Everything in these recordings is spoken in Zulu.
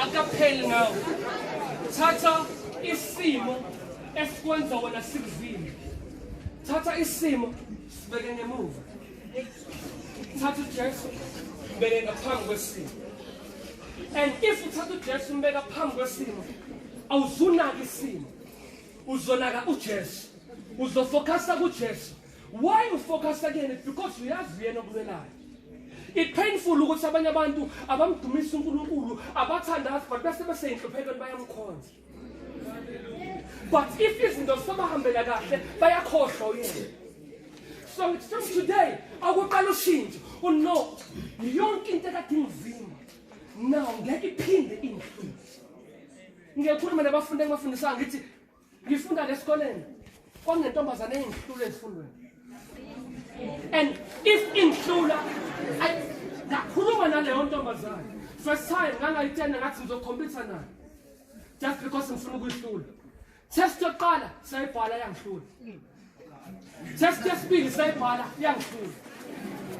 akapheli ngawo thatha isimo esikwenza wena sikuzile thatha isimo sibeke ngemuva thatha ujesu mbeke ngaphambi kwesimo and if uthatha ujesu umbeka phambi kwesimo awuzunaki isimo uzonaka ujesu uzofokhasa kujesu why you focus kuyena because uyazi uyena okulwelayo it painful ukuthi abanye abantu abamdumisa uNkulunkulu abathandazi but bese beseyinhluphekweni bayamkhonza but if izinto zisabahambela kahle bayakhohlwa uyena so it's from today akuqala ushintsho uno oh, yonke into ekade ingizima now ngeke iphinde ingihluphe ngiyakhuluma nabafundi engibafundisanga ngithi ngifunda lesikoleni kwangentombazane engihlule ezifundweni and if ingihlula ngakhuluma naleyo ntombazane first time ngangayitshena ngathi ngizokhompyutha nayo just because ngifuna ukuyihlula test yokuqala sayibhala yangihlula Just just be beside Bala, young fool.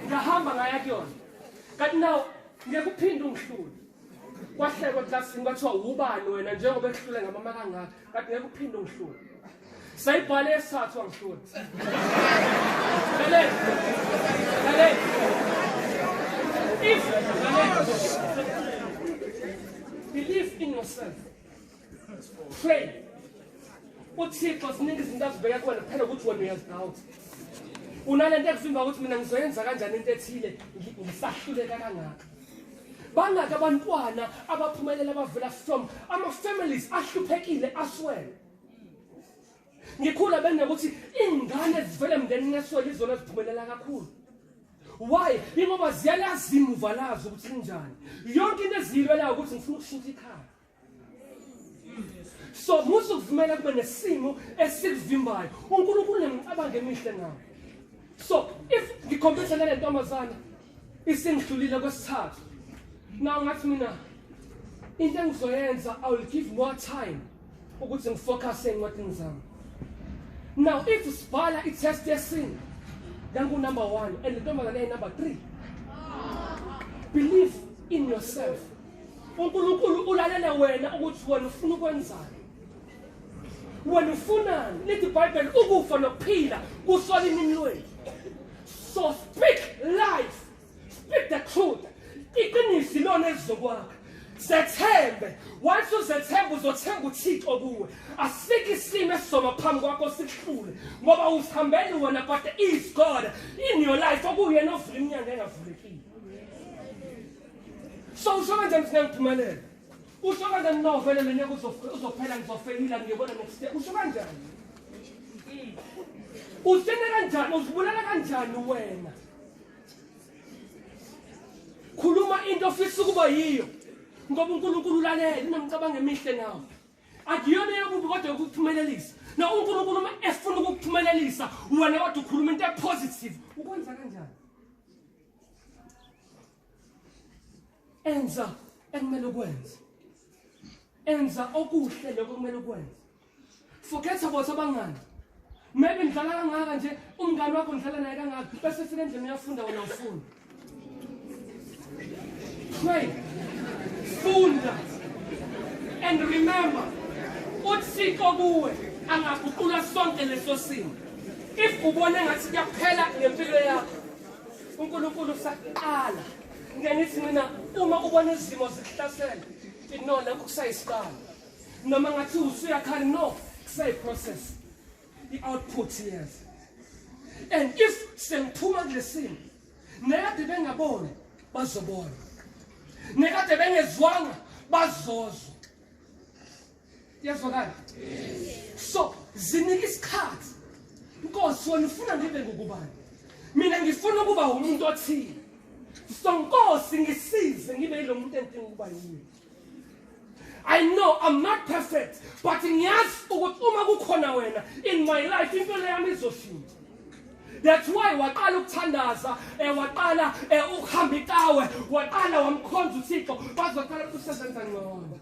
Ngahamba ngaya kuyona. Kanti nawo ngiyakuphinda ungihlule. Kwahlekwa classini kwathiwa ubani wena njengoba ehlule ngamama kangaka. Kanti ngiyakuphinda ungihlule. Sayibhala esathu angihlule. Lalela. Lalela. If lalela. Believe in yourself. Shame. uthixo siningi izinto azibeke kuwena kuphela ukuthi wena uyazidawuta unale nto ekuvimba ukuthi mina ngizoyenza kanjani into ethile ngisahluleka kangaka bangaki abantwana abaphumelela abavela from ama-families ahluphekile aswele ngikhula benokuthi iy'ngane ezivele emndenini eswele izona eziphumelela kakhulu why ingoba ziyalazi imuva lazo ukuthi linjani yonke into eziyilwelayo ukuthi ngifuna ukushintsha ikhaya so musa ukuvumela kube nesimo esikuvimbayo unkulunkulu nemicabango emihle nawo so if ngikhompetha nale ntombazana isengidlulile kwesithathu na ungathi mina into engizoyenza i will give more time ukuthi ngifocuse encwadini zami now if sibhala i-test yesini ngangunumber one and le ntombazane eyinumber three believe in yourself uNkulunkulu ulalele wena ukuthi wena ufuna ukwenzani wena ufunani lithi ibhayibheli ukufa nokuphila kusola inini lwenu so speak life speak the truth iqiniso ilona elizokwakha zethembe wathi uzethembe uzothemba uthixo kuwe asikho isimo esizoba phambi kwakho sikuhlule ngoba usihambeli wena but is god in your life okuyena ovula iminyango engavulekile so usho kanjani ukuthi ngangiphumelela usho kanjani no vele lo nyaka uzophela ngizofeyila ngiyobona next year usho kanjani usena kanjani uzibulala kanjani wena khuluma into ofisa ukuba yiyo ngoba unkulunkulu ulalele unomcabango emihle nawo akuyona eyokubi kodwa yokuphumelelisa na unkulunkulu uma efuna ukukuphumelelisa wena kodwa ukhuluma into epositive ukwenza kanjani enza ekumele ukwenze enza okuhle lokho kumele ukwenze forget about abangani maybe ngidlala kangaka nje umngani wakho ngidlala naye kangaka bese fika endlini uyafunda wena ufunda pray funda and remember uthixo kuwe angaguqula sonke leso simo if ubone ngathi kuyaphela ngempilo yakho uNkulunkulu usaqala ngenithi mina uma ubona izimo zikuhlasela inona kusayisiqala noma ngathi usuyakhala no kusayiprocess i-output yes and if sengiphuma kulesimo nekade bengaboni bazobona nekade bengezwanga bazozwa Yazwakala. So zinike isikhathi. Inkosi wena ufuna ngibe ngokubani? Mina ngifuna ukuba umuntu othile. So Nkosi ngisize ngibe yilomuntu engidinga ukuba yiyo. I know I'm not perfect but ngiyazi ukuthi uma kukhona wena in my life impilo yami izoshintsha. That's why waqala ukuthandaza eh waqala eh ukuhamba itawe waqala wamkhonza uThixo bazocela ukuthi usebenza ngcono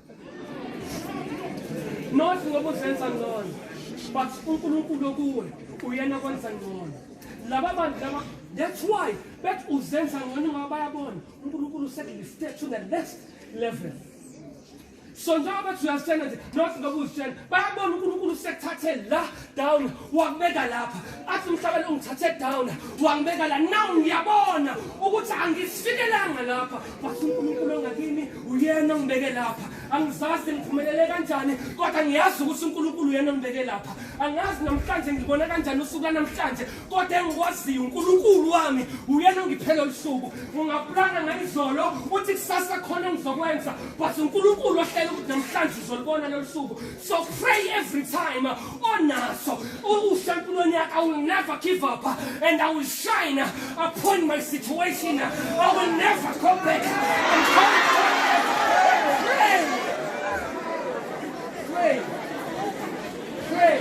Not ngoba uzenza ngcono but uNkulunkulu okuwe uyena kwenza ngcono laba bantu laba that's why bethi uzenza ngcono ngoba bayabona uNkulunkulu usekulifte to the next level so njengoba bethi uyazitshela nje nothi ngoba uzitshela bayabona unkulunkulu usekuthathe la down wakubeka lapha athi umhlaba lo ngithathe down wangibeka la now ngiyabona ukuthi angisifikelanga lapha but unkulunkulu ongakimi uyena ongibeke lapha angizazi ngiphumelele kanjani kodwa ngiyazi ukuthi unkulunkulu uyena ongibeke lapha angazi namhlanje ngibona kanjani usuku lanamhlanje kodwa engikwaziyo unkulunkulu wami uyena ongiphela olusuku ungaplana ngayizolo uthi kusasa khona engizokwenza but unkulunkulu ohlela ukuthi namhlanje uzolibona lolu suku so pray every time onaso uhle empilweni yakhe i will never give up and i will shine upon my situation i will never go back and come pray pray pray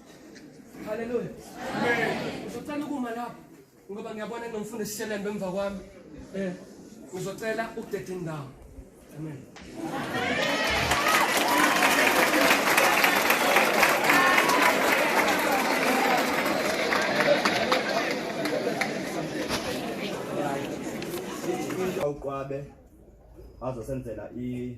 Haleluya. Amen. Uzocela ukuma lapho ngoba ngiyabona kunomfundo sisheleni bemva kwami. Eh. Uzocela ukudeda indawo. Amen. Awuqwabe azosenzela i